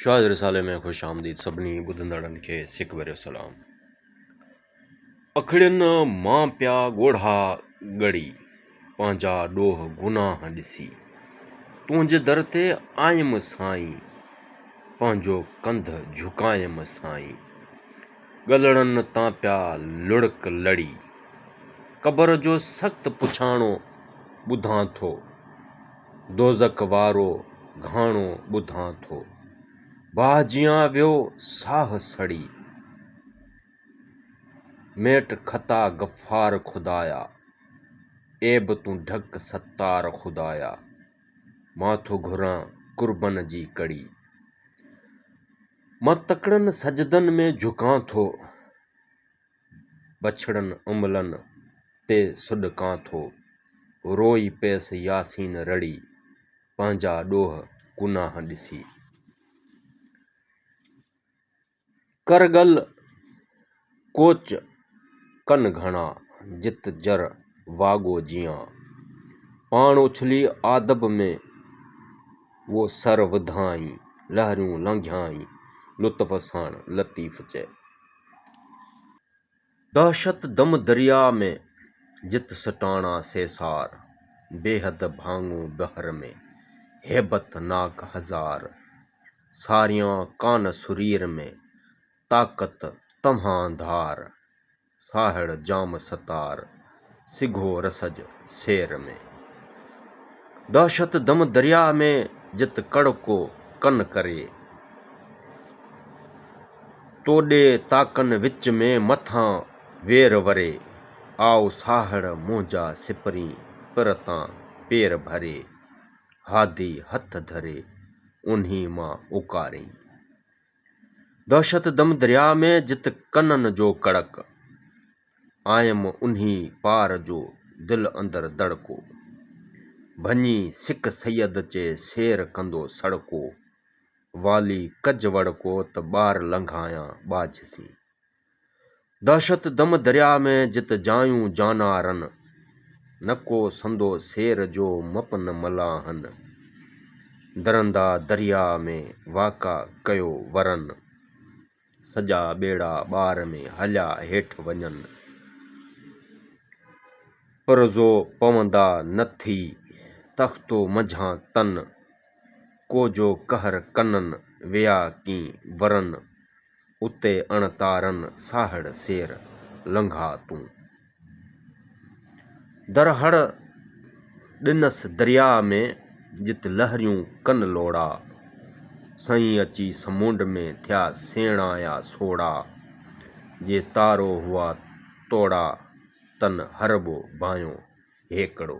شاهد رسالي ۾ خوش آمديد سڀني ٻڌندڙن کي سڪ ڀريو سلام اکڙين مان پيا ڳوڙها ڳڙي پنهنجا ڏوهه گناهه ڏسي تنهنجي در تي آيم سائين پنهنجو ڪنڌ جهڪايم سائين ڳلڙن تان پيا لڙڪ لڙي قبر جو سخت پڇاڻو ٻڌان ٿو دوزخ وارو گهاڻو ٻڌان ٿو. باهه جيان ويو ساهه سڙي، ميٽ خطا غفار خدايا، عيب تون ڍڪ ستار خدايا، مان ٿو گهران قربن جي ڪڙي. مان تڪڙن سجدن ۾ جهڪان ٿو. بڇڙن املن تي سڏ ڪان ٿو، روئي پيس ياسين رڙي، پنهنجا ڏوهه گناهه ڏسي. ڪرگل ڪوچ ڪن گهڻا، جت جر واڳو جيان. پاڻ اڇلي آدب ۾، وو سر وڌائين، لهريون لنگهيائين، لطف ساڻ لطيف چئي. دهشت دم درياء ۾، جت سٽاڻا سيسار، بيحد ڀاڱون بحر ۾، هيبت ناڪ هزار، ساريان ڪان سرير ۾، طاقت توهان ڌار، ساهڙ جام ستار. سگهو رسج سير ۾، دهشت دم درياء ۾، جت ڪڙڪو ڪن ڪري، توڏي تاڪن وچ ۾، مٿان وير وري، آء ساهڙ منهنجا سپرين، پر تان پير ڀري، هادي هٿ ڌري، اونهي مان اوڪارين. دهشت دم درياء ۾، جت ڪنن جو ڪڙڪ. آيم انهي پار جو دل اندر دڙڪو، ڀڃي سڪ سيد چي سير ڪندو سڙڪو، والي ڪج وڙڪو ته ٻار لنگهايان ٻاجهه سين. دهشت دم دريا ۾ جت جايون جانا رن، نه ڪو سندو سير جو مپ نه ملاحن، درندا دريا ۾ واڪا ڪيو ورن. سڄا ٻيڙا ٻار ۾ هليا هيٺ وڃن. پرزو پوندا نه ٿي، تختو منجهان تن. ڪوجو قهر ڪنن، ويا ڪين ورن. اتي اڻ تارن، ساهڙ سير لنگها تون. در هڙ ڏنس درياء ۾، جت لهريون ڪن لوڙا، سائين اچي سمونڊ ۾ ٿيا سيڻا يا سوڙا، جي تارو هئا توڙا، تن هرٻو ڀانئيو هيڪڙو.